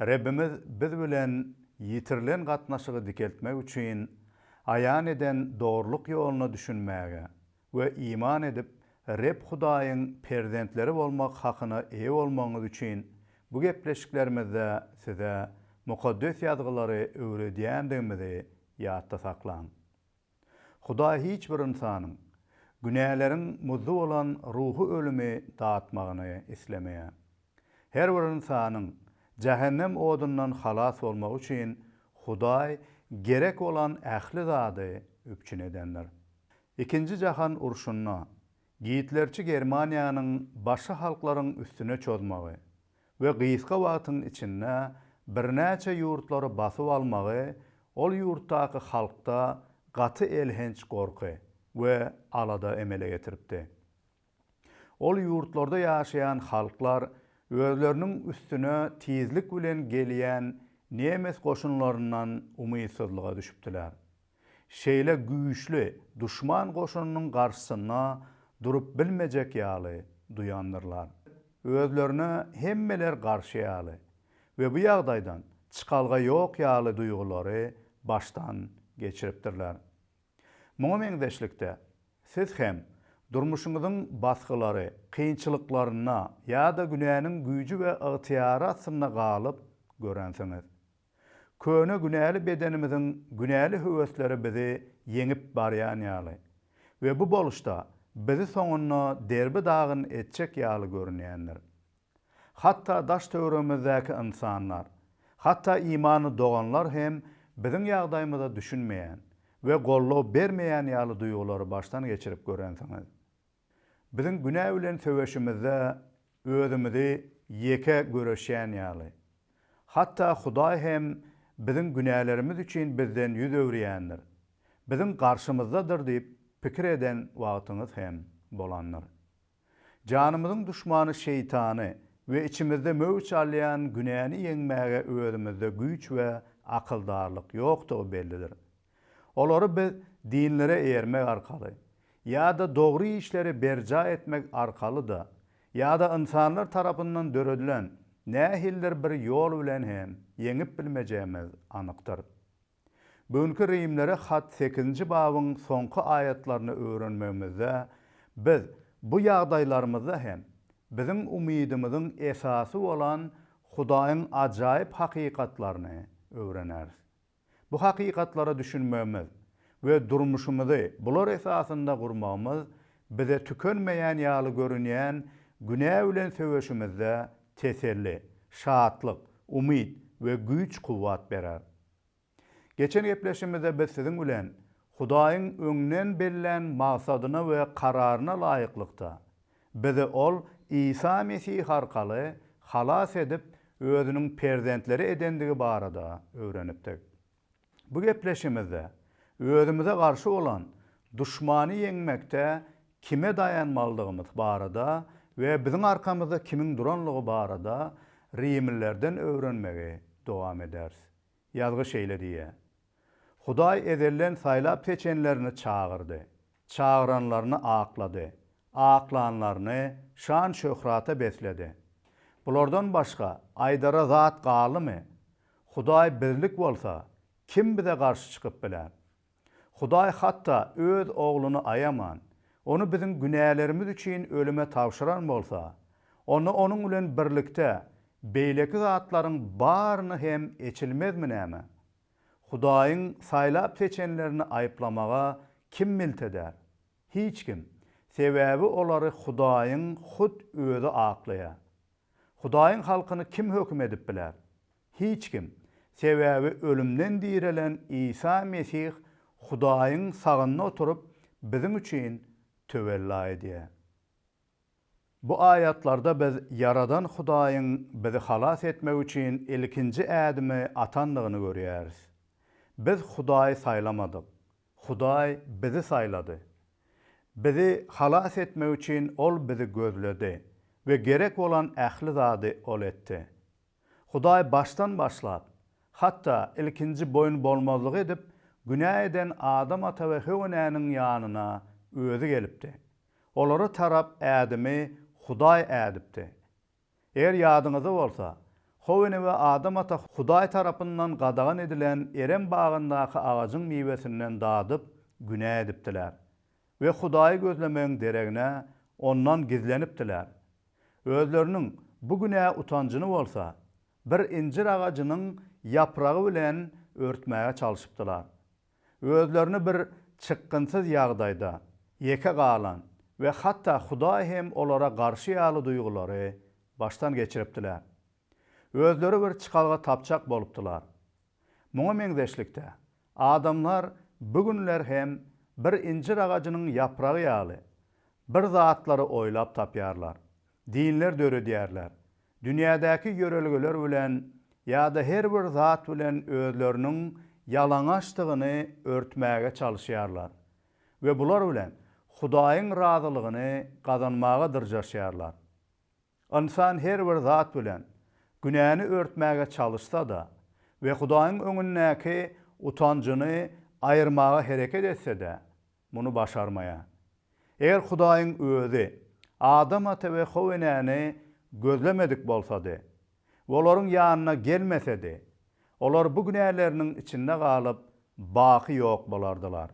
Rebbimiz biz bilen ýitirilen gatnaşygy dikeltmek üçin aýan eden dogrulyk ýoluna düşünmäge we iman edip, Reb Hudaýyň perzentleri bolmak hakyna eýe bolmagyňyz üçin bu gepleşiklerimizde size Mukaddes Ýazgylary öwredýändigimizi ýatda saklaň. Hudaý hiç bir ynsanyň günäleriň muzdy bolan ruhy ölümi datmagyny islemeýär. Her bir ynsanyň jähennem odundan halas bolmagy üçin Hudaý gerek bolan ähli zady üpjün edendir. Ikinji jahan urşunda Gitlerçi Germaniýanyň başy halklaryň üstüne çozmagy we gysga wagtyň içinde birnäçe ýurtlary basyp almagy ol ýurtdaky halkda gaty elhenç gorky we alada emele getiripdi. Ol ýurtlarda ýaşaýan halklar özleriniň üstüne tizlik bilen gelýän nemes goşunlaryndan umytsyzlyga düşüpdiler. Şeýle güýçli duşman goşunynyň garşysynda durup bilmejek ýaly duýandyrlar. Özlerine hemmeler garşy ýaly we bu ýagdaýdan çykalga ýok ýaly duýgulary başdan geçiripdirler. Muňa meňzeşlikde, siz hem durmuşyňyzyň basgylary, kynçylyklaryna ýa-da günäniň güýji we ygtyýary astynda galyp görensiňiz. Köne günäli bedenimiziň günäli höwesleri bizi ýeňip barýan ýaly we bu boluşda bizi soňunda derbi dagyn etjek ýaly görünýändir. Hatda daş-töweregimizdäki ynsanlar, hatda imanly doganlar hem biziň ýagdaýymyza düşünmeýän we goldaw bermeýän ýaly duýgulary başdan geçirip görensiňiz. Biziň günä bilen söweşimizde özümizi ýeke göreşýän ýaly. Hatda Hudaý hem biziň günälerimiz üçin bizden ýüz öwürýändir, biziň garşymyzdadyr diýip pikir eden wagtyňyz hem bolandyr. Janymyzyň duşmany Şeýtany we içimizde möwç alýan günäni ýeňmäge özümizde güýç we akyldarlyk ýokdugy bellidir. Olary biz dinlere eýermek arkaly, ýa-da dogry işleri berjaý etmek arkaly-da, ýa-da ynsanlar tarapyndan döredilen nähilidir bir ýol bilen hem ýeňip bilmejegimiz anykdyr. Bu günki Rimlere hat sekizinji babyň soňky aýatlaryny öwrenmegimizde biz bu ýagdaýlarymyzda hem biziň umydymyzyň esasy bolan Hudaýyň ajaýyp hakykatlaryny öwreneris. Bu hakykatlara düşünmegimiz we durmuşymyzy bular esasynda gurmagymyz bize tükenmeýän ýaly görünýän günä bilen söweşimizde teselli, şatlyk, umyt we güýç-kuwwat berer. Geçen gepleşimizde biz siziň bilen Hudaýyň öňden bellän magsadyna we kararyna laýyklykda, Bizi Ol Isa Mesih arkaly halas edip, Özüniň perzentleri edendigi barada öwrenipdik. Bu gepleşigimizde özümize garşy bolan duşmany ýeňmekde kime daýanmalydygymyz barada we biziň arkamyzda kimiň duranlygy barada rimlilerden öwrenmegi dowam ederis. Ýazgy şeýle diýýär, Hudaý ezelden saýlap seçenlerini çagyrdy. Çagyranlaryny aklady. Aklanlaryny şan-şöhrata besledi. Bulardan başga aýdara zat galdymy? Hudaý bizlik bolsa, kim bize garşy çykyp biler? Hudaý hatda Öz Ogluny aýaman, Ony biziň günälerimiz üçin ölüme tabşyran bolsa, onda Onuň bilen birlikde beýleki zatlaryň baryny hem eçilmezmi näme? Hudaýyň saýlap seçenlerini aýyplamaga kim milt eder? Hiç kim. Sebäbi olary Hudaýyň hut Özi aklaýar. Hudaýyň halkyny kim höküm edip biler? Hiç kim. Sebäbi ölümden direlen Isa Mesih Hudaýyň sagynda oturyp biziň üçin töwella edýär. Bu aýatlarda biz Ýaradan Hudaýyň bizi halas etmek üçin ilkinji ädimi atandygyny görýäris. Biz Hudaýy saýlamadyk. Hudaý bizi saýlady. Bizi halas etmek üçin Ol bizi gözledi we gerek bolan ähli zady Ol etdi. Hudaý başdan başlap, hatda ilkinji boýunbolmazlyk edip, günä eden Adam ata we Höwa enäniň ýanyna Özi gelipdi. Olara tarap Ädemi Hudaý ädipdi. Eger ýadyňyzda bolsa, Howene we Adam ata Hudaý tarapyndan gadagan edilen Erem bagyndaky agajyň miwesinden dadyp, günä edipdiler we Hudaýy gözlemegiň deregine, Ondan gizlenipdiler. Özleriniň bu günä utanjyny bolsa, bir injir agajynyň ýapragy bilen örtmäge çalşypdylar. Özlerini bir çykgynsyz ýagdaýda, ýeke galan we hatda Hudaý hem olara garşy ýaly duýgulary başdan geçiripdiler. Özleri bir çykalga tapjak bolupdylar. Muňa meňzeşlikde, adamlar bu günler hem bir injir agajynyň ýapragy ýaly, bir zatlary oýlap tapýarlar, dinler döredýärler Dünýädäki ýörelgeler bilen ýa-da her bir zat bilen özleriniň ýalaňaçdygyny örtmäge çalyşýarlar we bular bilen Hudaýyň razylygyny gazanmaga dyrjaşýarlar. Ynsan her bir zat bilen günäni örtmäge çalyşsa-da we Hudaýyň öňündäki utanjyny aýyrmaga hereket etse-de, Muny başarmaýar. Eger Hudaýyň Özi Adam ata we How enäni gözlemedik bolsady, we olaryň ýanyna gelmesedi, olar bu günäleriniň içinde galyp, baky ýok bolardylar.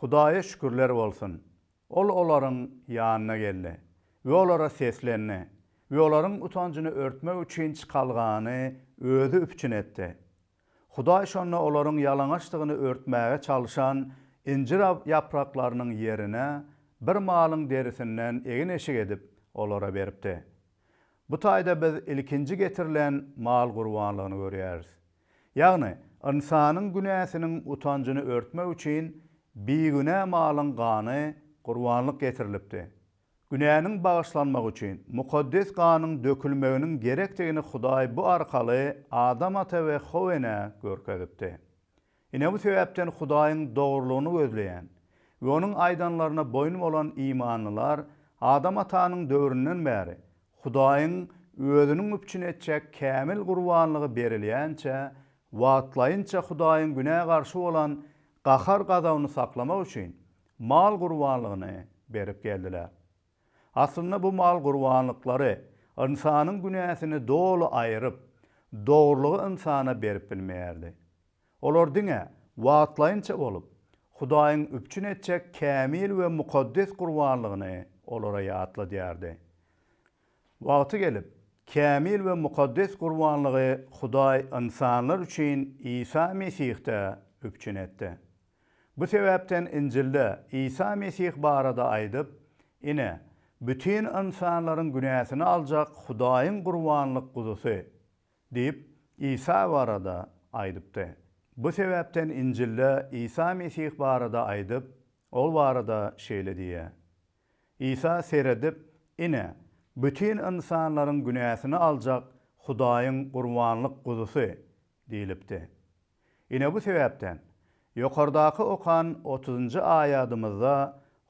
Hudaýa şükürler bolsun, Ol olaryň ýanyna geldi we olara seslendi we olaryň utanjyny örtmek üçin çykalgany Özi üpjün etdi. Hudaý şonda olaryň ýalaňaçdygyny örtmäge çalşan injir ýapraklarynyň ýerine bir malyň derisinden egin-eşik edip, olara beripdi. Bu taýda biz ilkinji getirilen mal gurbanlygyny görýäris. Ýagny, ynsanyň günäsiniň utanjyny örtmek üçin bigünä malyň gany gurbanlyk getirilipdi. Günäniň bagyşlanmagy üçin mukaddes ganyň dökülmeginiň gerekdigini Hudaý bu arkaly Adam ata we How enä görkezipdi. Ine bu sebäpden Hudaýyň dogrulygyny gözleýän we Onuň aýdanlaryna boýun bolan imanlylar Adam atanyň döwründen bäri Hudaýyň Özüniň üpjün etjek kämil gurbanlygy berilýänçä wagtlaýynça Hudaýyň günä garşy bolan gahar-gazabyny saklamak üçin mal gurbanlygyny berip geldiler. Aslynda bu mal gurbanlyklary ynsanyň günäsini doly aýyryp, dogrulygy ynsana berip bilmeýärdi. Olar diňe wagtlaýynça bolup, Hudaýyň üpjün etjek kämil we mukaddes gurbanlygyny olara ýatladýardy. Wagty gelip, kämil we mukaddes gurbanlygy Hudaý ynsanlar üçin Isa Mesihde üpjün etdi. Bu sebäpden Injilde Isa Mesih barada aýdyp, Ine, bütin ynsanlaryň günäsini aljak Hudaýyň gurbanlyk guzusy diýip, Isa barada aýdypdy. Bu sebäpden Injilde Isa Mesih barada aýdyp, Ol barada şeýle diýýär, Isa seredip, Ine, bütin ynsanlaryň günäsini aljak Hudaýyň gurbanlyk guzusy diýlipdi. Ine bu sebäpden, ýokardaky okan otuzynjy aýadymyzda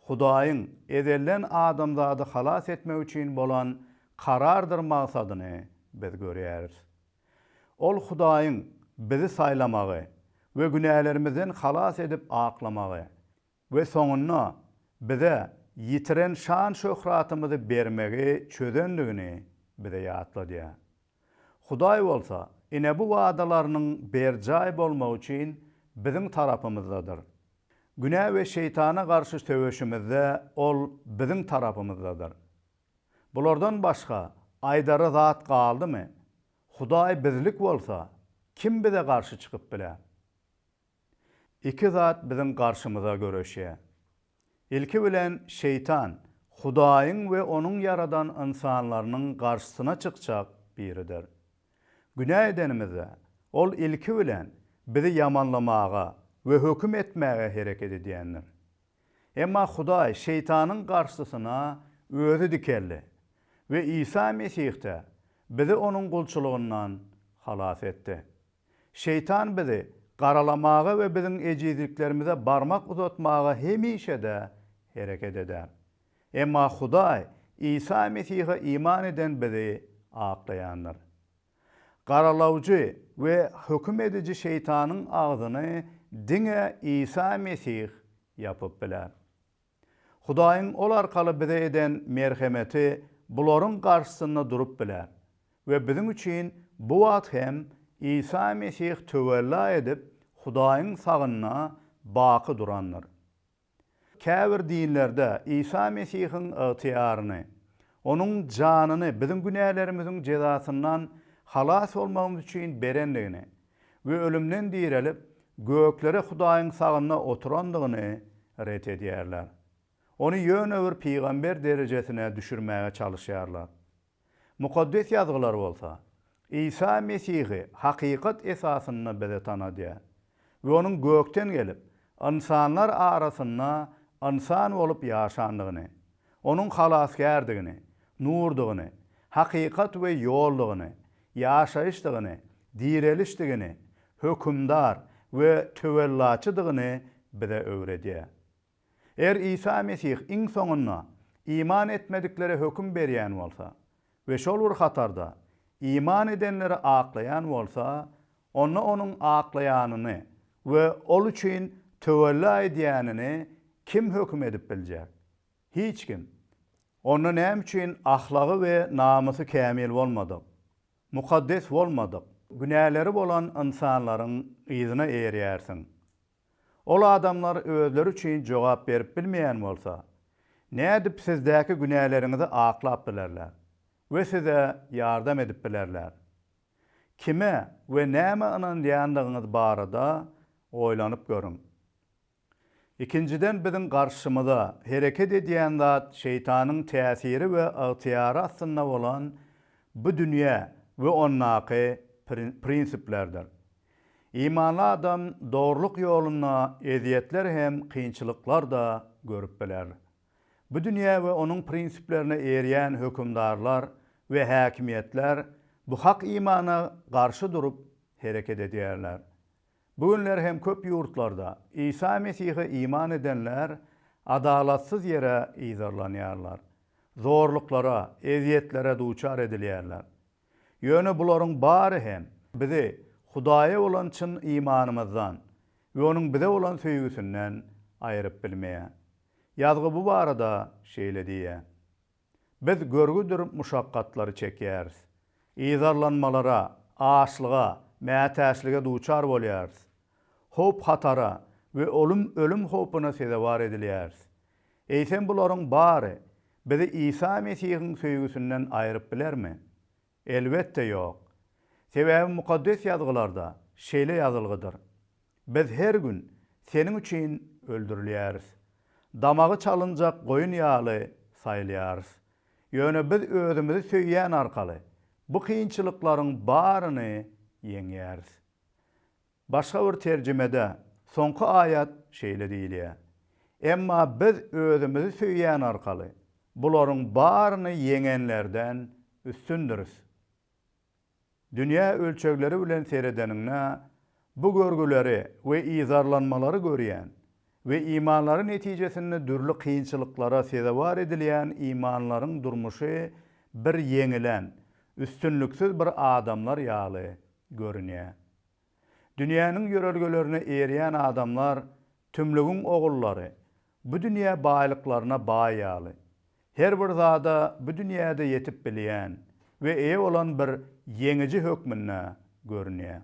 Hudaýyň ezelden adamzady halas etmek üçin bolan karardyr magsadyny biz görýäris. Ol Hudaýyň bizi saýlamagy we günälerimizden halas edip aklamagy, We soňunda bize ýitiren şan-şöhratymyzy bermegi çözendigini bize ýatladýar. Hudaý bolsa ine bu wadalarynyň berjaý bolmagy üçin biziň tarapymyzdadyr. Günä we şeýtana garşy söweşimizde Ol biziň tarapymyzdadyr. Bulardan başga aýdara zat galdymy? Hudaý bizlik bolsa, kim bize garşy çykyp biler? Iki zat biziň garşymyza göreşýär. Ilki bilen şeýtan Hudaýyň we onuň ýaradan ynsanlarynyň garşysyna çykjak biridir. Günä edenimizde, ol ilki bilen bizi ýamanlamaga we höküm etmäge hereket edýändir. Emma Hudaý şeýtanyň garşysyna özi dikeldi we Isa Mesihde bizi onuň gulçulygyndan halas etdi. Şeýtan bizi garalamaga we biziň ejizliklerimize barmak uzatmaga hemişe-de hereket eder. Emma Hudaý Isa Mesihe iman eden bizi aklaýandyr. Garalawjy we höküm ediji Şeýtanyň agzyny diňe Isa Mesih ýapyp biler. Hudaýyň ol arkaly bize eden merhemeti bularyň garşysynda durup biler we biziň üçin bu wagt hem Isa Mesih töwella edip Hudaýyň sagynda baky durandyr. Käbir dinlerde Isa Mesihiň ygtyýaryny, Onuň janyny biziň günälerimiziň jezasyndan halas bolmagymyz üçin berendigini we ölümden direlip, göklere Hudaýyň sagynda oturandygyny ret edýärler. Ony ýöne bir pygamber derejesine düşürmäge çalyşýarlar. Mukaddes Ýazgylar bolsa, Isa Mesihi hakykat esasynda bize tanadýar we onuň gökden gelip, ynsanlar arasynda ynsan bolup ýaşandygyny, Onuň Halasgärdigini, Nurdygyny, Hakykat we Ýoldugyny, Ýaşaýyşdygyny, Direlişdigini, Hökümdar we Töwellaçydygyny bize öwredýär. Eger Isa Mesih iň soňunda iman etmediklere höküm berýän bolsa, we şol bir hatarda iman edenleri aklaýan bolsa, onda onuň aklaýanyny we ol üçin töwella edýänini kim höküm edip biljek? Hiç kim. Onda näme üçin ahlagy we namysy kämil bolmadyk, mukaddes bolmadyk, günäleri bolan ynsanlaryň yzyna eýerýärsiň? Ol adamlar özleri üçin jogap berip bilmeýän bolsa, nädip sizdäki günäleriňizi aklap bilerler we size ýardam edip bilerler? Kime we nämä ynanýandygyňyz barada oýlanyp görüň. Ikinjiden, biziň garşymyza hereket edýän zat Şeýtanyň täsiri we ygtyýary astynda bolan bu dünýä we ondaky prinsiplerdir. Imanly adam dogrulyk ýolunda ezýetler hem kynçylyklar-da görüp biler. Bu dünýä we onuň prinsiplerine erýän hökümdarlar we häkimiýetler bu hak imana garşy durup hereket edýärler. Bu günler hem köp ýurtlarda Isa Mesihe iman edenler adalatsyz ýere yzarlanýarlar, zorluklara, ezýetlere duçar edilýärler. Ýöne bularyň bary hem bizi Hudaýa bolan çyn imanymyzdan we Onuň bize bolan söýgüsinden aýryp bilmeýär. Ýazgy bu barada şeýle diýýär, Biz görgüdir muşakgatlary çekýäris, yzarlanmalara, açlyga, mätäçlige duçar bolýarys, howp-hatara we ölüm howpuna sezewar edilýäris. Eýsem bularyň bary bizi Isa Mesihiň söýgüsinden aýryp bilermi? Elbetde ýok. Sebäbi Mukaddes Ýazgylarda şeýle ýazylgydyr, Biz her gün seniň üçin öldürilýäris. Damagy çalynjak goýun ýaly saýylýarys. Ýöne biz özümizi söýýän arkaly bu kynçylyklaryň baryny ýeňýäris. Başga bir terjimede soňky aýat şeýle diýilýär, Emma Biz özümizi söýýän arkaly bularyň baryny ýeňenlerden üstündiris. Dünýä ölçegleri bilen seredeniňde, bu görgüleri we yzarlanmalary görýän we imanlary netijesinde dürli kynçylyklara sezewar edilýän imanlylaryň durmuşy bir ýeňilen, üstünliksiz bir adamlar ýaly görünýär. Dünýäniň ýörelgelerine eýerýän adamlar tümlügiň ogullary, bu dünýä baýlyklaryna baý ýaly, her bir zada bu dünýäde ýetip bilýän we eýe bolan bir ýeňiji hökmünde görünýär.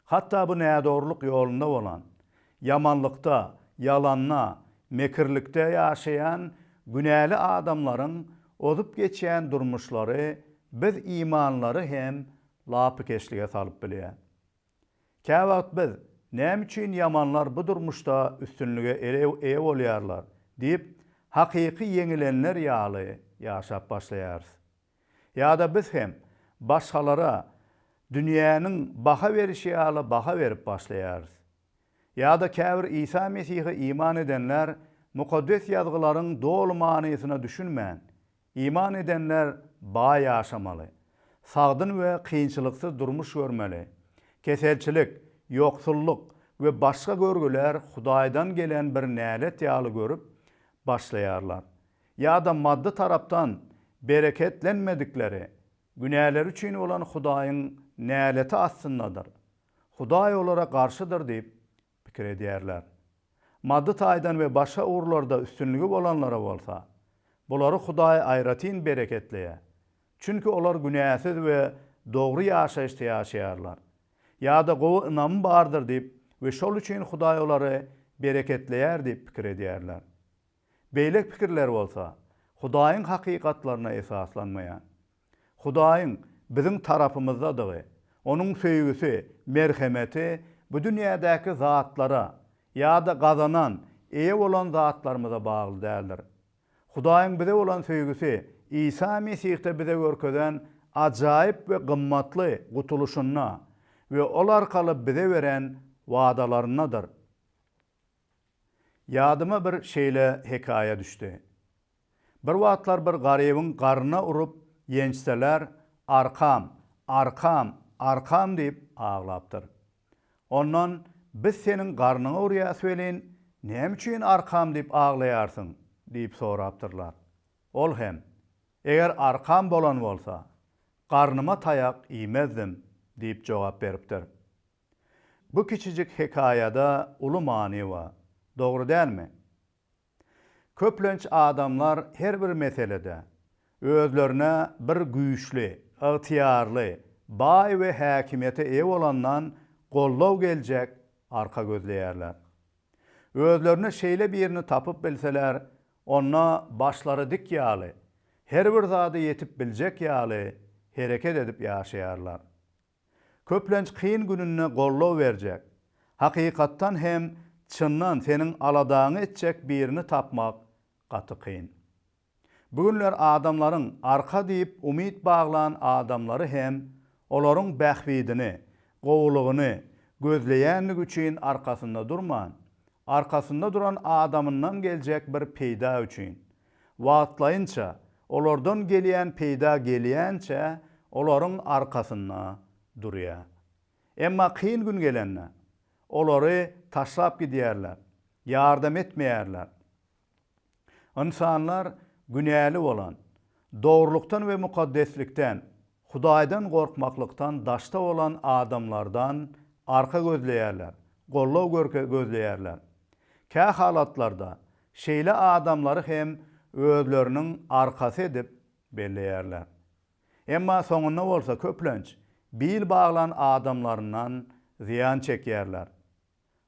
Hatda bu nädogrulyk ýolunda bolan, ýamanlykda, ýalanda, mekirlikde ýaşaýan günäli adamlaryň ozup geçýän durmuşlary biz imanlary hem lapykeçlige salyp bilýär. Käwagt biz, Näme üçin ýamanlar bu durmuşda üstünlige eýe bolýarlar? diýip, hakyky ýeňilenler ýaly ýaşap başlaýarys. Ýa-da biz hem başgalara dünýäniň baha berişi ýaly baha berip başlaýarys. Ýa-da käbir Isa Mesihe iman edenler Mukaddes Ýazgylaryň doly manysyna düşünmän, Iman edenler baý ýaşamaly, sagdyn we kynçylyksyz durmuş görmeli. Keselçilik, ýoksullyk we başga görgüler Hudaýdan gelen bir nälet ýaly görüp başlaýarlar ýa-da maddy tarapdan bereketlenmedikleri, günäleri üçin bolan Hudaýyň näleti astyndadyr, Hudaý olara garşydyr diýip pikir edýärler. Maddy taýdan we başga ugurlarda üstünligi bolanlara bolsa, bulary Hudaý aýratyn bereketleýär, çünki olar günäsiz we dogry ýaşaýyşda ýaşaýarlar, ýa-da gowy ynamy bardyr diýip we şol üçin Hudaý olary bereketleýär diýip pikir edýärler. Beýle pikirler bolsa, Hudaýyň hakykatlaryna esaslanmaýar. Hudaýyň biziň tarapymyzdadygy, Onuň söýgüsi, merhemeti bu dünýädäki zatlara ýa-da gazanan, eýe bolan zatlarymyza bagly däldir. Hudaýyň bize bolan söýgüsi Isa Mesihde bize görkezen ajaýyp we gymmatly gutulyşynda we Ol arkaly bize beren wadalaryndadyr. Ýadyma bir şeýle hekaýa düşdi. Bir wagtlar bir garybyň garnyna urup ýençseler Arkam, arkam, arkam diýip aglapdyr. Ondan Biz seniň garnyňa urýas welin, näme üçin arkam diýip aglaýarsyň? diýip sorapdyrlar. Ol hem Eger arkam bolan bolsa, garnyma taýak iýmezdim diýip jogap beripdir. Bu kiçijik hekaýada uly many ba, dogry dälmi? Köplenç adamlar her bir meselede özlerine bir güýçli, ygtyýarly, baý we häkimiýete eýe bolandan goldaw geljek arka gözleýärler. Özlerine şeýle birini tapyp bilseler, onda başlary dik ýaly, her bir zada ýetip biljek ýaly hereket edip ýaşaýarlar. Köplenç kyn gününde goldaw berjek, hakykatdan hem çyndan seniň aladaňy etjek birini tapmak gaty kyn. Bu günler adamlaryň arka diýip umyt baglan adamlary hem olaryň bähbidini, gowulygyny gözleýänligi üçin arkasynda durman, arkasynda duran adamyndan geljek bir peýda üçin, Wagtlaýynça, olardan gelýän peýda gelýänçä olaryň arkasynda durýar. Emma kyn gün gelende, olary taşlap gidýärler, ýardam etmeýärler. Ynsanlar günäli bolan, dogrulykdan we mukaddeslikden, Hudaýdan gorkmaklykdan daşda bolan adamlardan arka gözleýärler, goldaw gözleýärler. Kähalatlarda Şeýle adamlary hem özleriniň arkasy edip belleýärler. Emma soňunda bolsa köplenç bil baglan adamlaryndan zyýan çekýärler.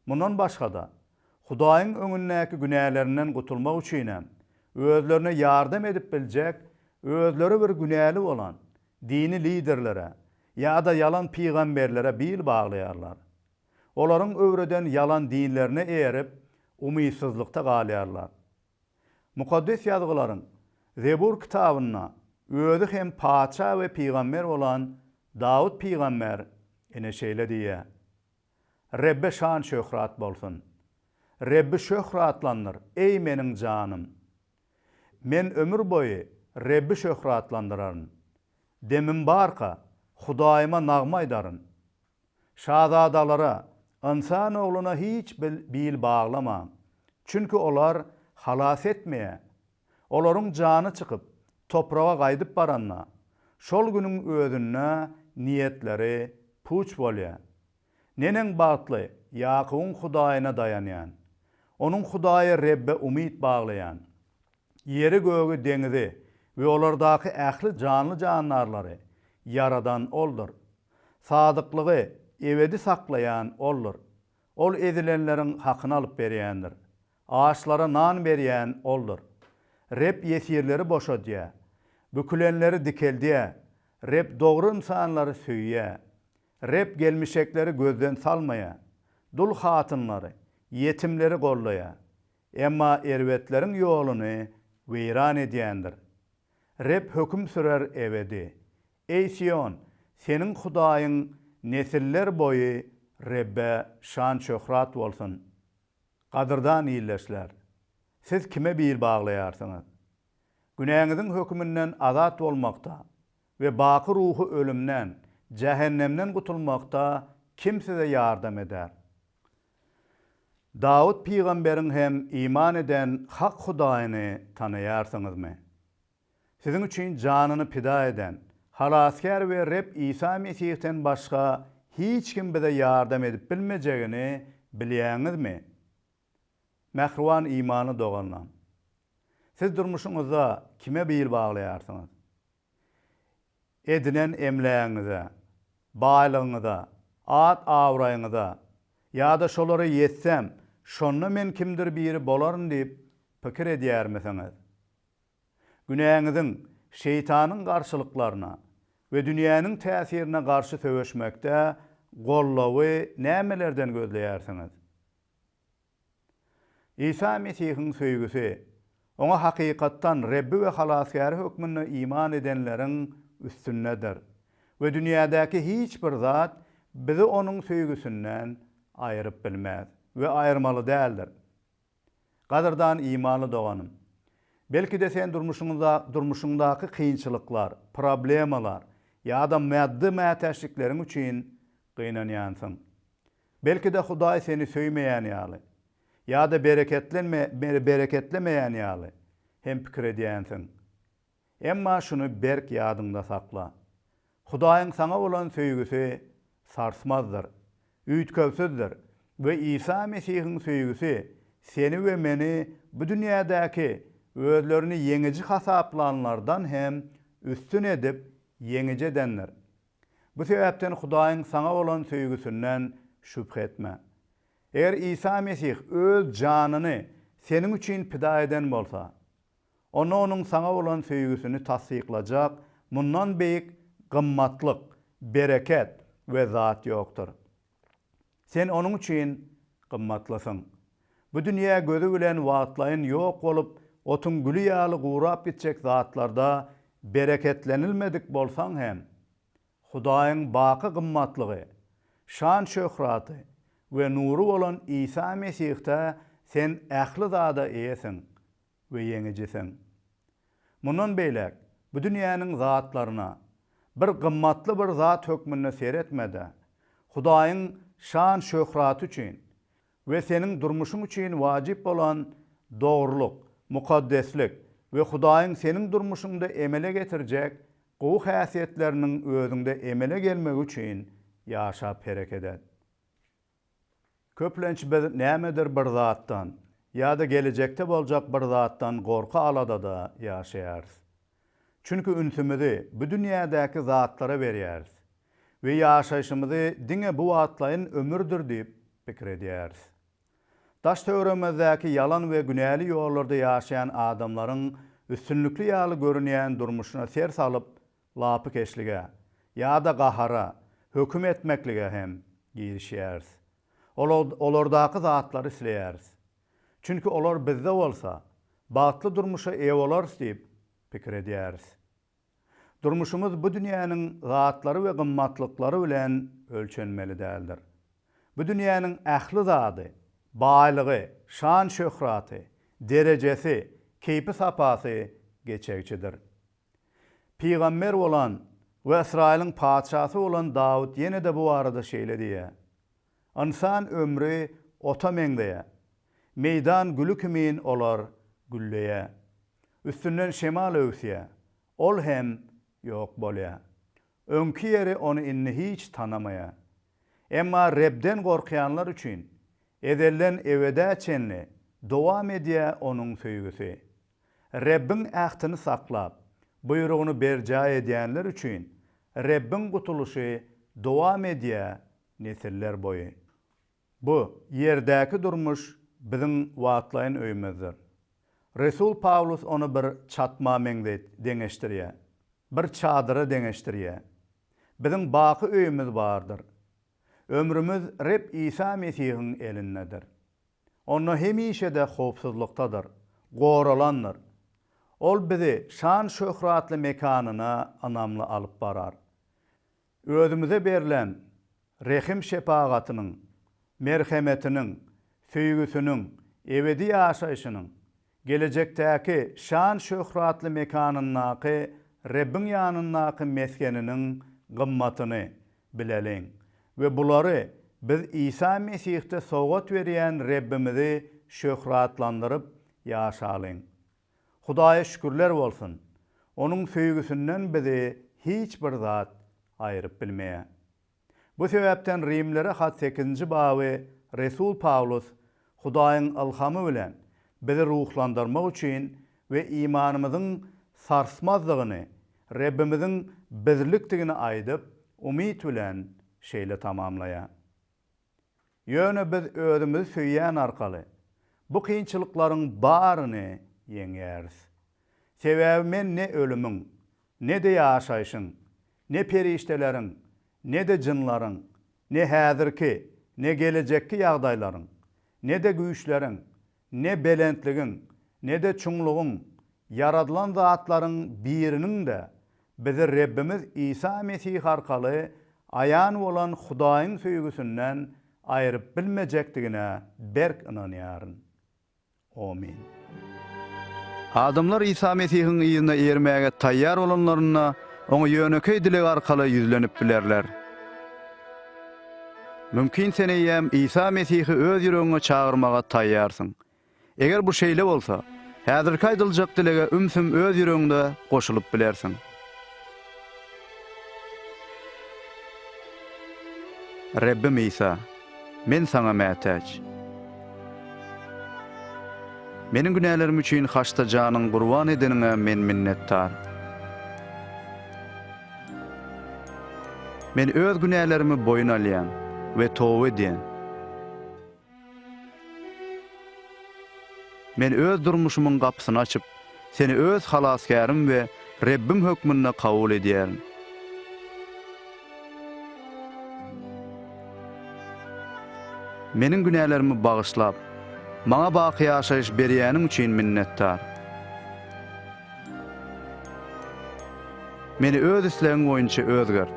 Mundan başga-da, Hudaýyň öňündäki günälerinden gutulmak üçinem, özlerine ýardam edip biljek özleri bir günäli bolan dini liderlere ýa-da ýalan pygamberlere bil baglaýarlar. Olaryň öwreden ýalan dinlerine eýerip, umytsyzlykda galýarlar. Mukaddes Ýazgylaryň Zebur kitabynda özi hem patyşa we pygamber bolan Dawut pygamber ine şeýle diýýär, Rebbe şan-şöhrat bolsun! Rebbi şöhratlandyr, eý, meniň janym! Men ömür boýy Rebbi şöhratlandyraryn. Demim barka, Hudaýyma nagma aýdaryn. Şazadalara, ynsan ogluna hiç bil baglama, çünki olar halas etmeýä. Olaryň jany çykyp, topraga gaýdyp baranda, şol günüň özünde niýetleri puç bolýa. Neneň bagtly, Ýakubyň Hudaýyna daýanýan, onuň Hudaýy Rebbe umyt baglaýan. Ýeri-gögi, deňizi we olardaky ähli janly-jandarlary ýaradan Oldur. Sadyklygy ebedi saklaýan Oldur. Ol ezilenleriň hakyny alyp berýändir. Açlara nan berýän Oldur. Reb ýesirleri boşadýar. Bükülenleri dikeldýär. Reb dogry ynsanlary söýýär. Reb gelmişekleri gözden salmaýar. Dul hatynlary, ýetimleri goldaýar. Emma erbetleriň ýoluny weýran edýändir. Reb höküm sürer ebedi. Eý Sion, seniň Hudaýyň nesiller boýy Rebbe şan-şöhrat bolsun! Gadyrdan ildeşler, siz kime bil baglaýarsyňyz? Günäňiziň höküminden azat bolmakda we baky ruhy ölümden, jähennemden gutulmakda kim size ýardam eder? Dawut pygamberiň hem iman eden hak Hudaýyny tanaýarsyňyzmy? Siziň üçin janyny pida eden, Halasgär we Reb Isa Mesihden başga hiç kim bize ýardam edip bilmejegini bilýäňizmi? Mähriban imanly doganlaň! Siz durmuşyňyzda kime bil baglaýarsyňyz? edinen emlägiňize, baýlygyňyza, at-abraýyňyza ýa-da şolara ýetsem, şonda men kimdir biri bolaryn diýip pikir edýärmisiňiz? Günäňiziň, şeýtanyň garşylyklaryna we dünýäniň täsirine garşy söweşmekde gollawy nämelerden gözleýärsiňiz? Isa Mesihiň söýgüsi, Oňa hakykatdan Rebbi we Halasgäri hökmünde iman edenleriň üstündedir we dünýädäki hiç bir zat bizi Onuň söýgüsinden aýryp bilmez we aýyrmaly däldir. Gadyrdan imanly doganym! Belki-de sen durmuşyňda durmuşyňdaky kynçylyklar, problemalar ýa-da maddy mätäçlikleriň üçin gynanýansyň. Belki-de Hudaý seni söýmeýän ýaly, ýa-da bereketlemeýän ýaly hem pikir edýänsiň. Emma şuny berk ýadyňda sakla, Hudaýyň saňa bolan söýgüsi sarsmazdyr, üýtgewsizdir we Isa Mesihiň söýgüsi seni we meni bu dünýädäki özlerini ýeňiji hasaplanlardan hem üstün edip ýeňiji edendir. Bu sebäpden Hudaýyň saňa bolan söýgüsinden şübhe etme. Eger Isa Mesih öz janyny seniň üçin pida eden bolsa, onda onuň saňa bolan söýgüsini tassyklajak mundan beýik gymmatlyk, bereket we zat ýokdur. Sen onuň üçin gymmatlysyň. Bu dünýä gözi bilen wagtlaýyn ýok bolup, otuň güli ýaly gurap gitjek zatlarda bereketlenilmedik bolsaň hem, Hudaýyň baky gymmatlygy, şan-şöhraty we nury bolan Isa Mesihde sen ähli zada eýesiň. we ýeňijisiň. Mundan beýläk, bu dünýäniň zatlaryna bir gymmatly bir zat hökmünde seretme-de, Hudaýyň şan-şöhraty üçin we seniň durmuşyň üçin wajyp bolan dogrulyk, mukaddeslik we Hudaýyň seniň durmuşyňda emele getirjek gowy häsiýetleriniň özüňde emele gelmegi üçin ýaşap hereket et. Köplenç biz nämedir bir zatdan ýa-da gelejekde boljak bir zatdan gorky-aladada ýaşaýarys. Çünki ünsümizi bu dünýädäki zatlara berýäris we ýaşaýşymyzy diňe bu wagtlaýyn ömürdir diýip pikir edýäris. Daş-töweregimizdäki ýalan we günäli ýollarda ýaşaýan adamlaryň üstünlikli ýaly görünýän durmuşyna ser salyp, lapykeçlige ýa-da gahara höküm etmeklige hem girişýäris. Olardaky zatlary isleýäris. Çünki olar bizde bolsa, bagtly durmuşa eýe bolarys diýip pikir edýäris. Durmuşymyz bu dünýäniň zatlary we gymmatlyklary bilen ölçenmeli däldir. Bu dünýäniň ähli zady, baýlygy, şan-şöhraty, derejesi, keýpi-sapasy geçegiçidir. Pygamber bolan we Ysraýylyň patyşasy bolan Dawut ýene-de bu barada şeýle diýýär, Ynsan ömri ota meňzeýär. Meýdan güli kimin olar gülleýär. Üstünden şemal öwüsýär. Ol hem ýok bolýar. Öňki ýeri ony indi hiç tanamaýar. Emma Rebden gorkýanlar üçin ezelden ebedä çenli dowam edýär Onuň söýgüsi. Rebbiň ähtini saklap, buýrugyny berjaý edýänler üçin Rebbiň gutulyşy dowam edýär nesiller boýy. Bu ýerdäki durmuş biziň wagtlaýyn öýümizdir. Resul Pawlus ony bir çatma meňzeýt deňeşdirýär, bir çadyra deňeşdirýär. Biziň baky öýümiz bardyr. Ömrümiz Reb Isa Mesihiň elindedir. onda hemişe-de howpsuzlykdadyr, goralandyr. Ol bizi şan-şöhratly mekanyna ynamly alyp barar. Özümize berlen rehim-şepagatynyň, merhemetiniň, söýgüsiniň, ebedi ýaşaýşynyň, Gelejekdäki şan-şöhratly mekanyndaky Rebbiň ýanyndaky mesgeniniň gymmatyny bileliň we bulary biz Isa Mesihde sowgat berýän Rebbimizi şöhratlandyryp ýaşalyň. Hudaýa şükürler bolsun! Onuň söýgüsinden bizi hiç bir zat aýryp bilmeýär. Bu sebäpden Rimlere hat sekizinji baby resul Pawlus Hudaýyň ylhamy bilen bizi ruhlandyrmak üçin we imanymyzyň sarsmazdygyny, Rebbimiziň birlikdigini aýdyp, umyt bilen şeýle tamamlaýar. Ýöne biz özümizi söýýän arkaly, bu kynçylyklaryň baryny ýeňýäris. Sebäbi men ne ölümiň, ne-de ýaşaýşyň, Ne perişdeleriň, ne-de jynlaryň, ne häzirki, ne gelejekki ýagdaýlaryň, ne-de güýçleriň, ne belentligiň, ne-de çuňlugyň, ýaradylan zatlaryň biriniň-de bizi Rebbimiz Isa Mesih arkaly aýan bolan Hudaýyň söýgüsinden aýryp bilmejekdigine berk ynanýaryn. Omin. Adamlar Isa Mesihiň yzyna ermäge taýýar bolanlarynda, Oňa ýönekeý dileg arkaly ýüzlenip bilerler. Mümkin sen eýýäm Isa Mesihi öz ýüregiňe çagyrmaga taýýarsyň. Eger bu şeýle bolsa, häzirki aýdyljak dilege ümsüm öz ýüregiňde goşulyp bilersiň. Rebbim Isa, men Saňa mätäç. Meniň günälerim üçin haçda janyň gurban edeniňe men minnetdar. Men öz günälerimi boýun alýan we toba edýän. Men öz durmuşymyň gapysyny açyp, Seni öz Halasgärim we Rebbim hökmünde kabul edýärin. Meniň günälerimi bagyşlap, maňa baky ýaşaýyş berýäniň üçin minnetdar. Meni öz islegiň boýunça özgert.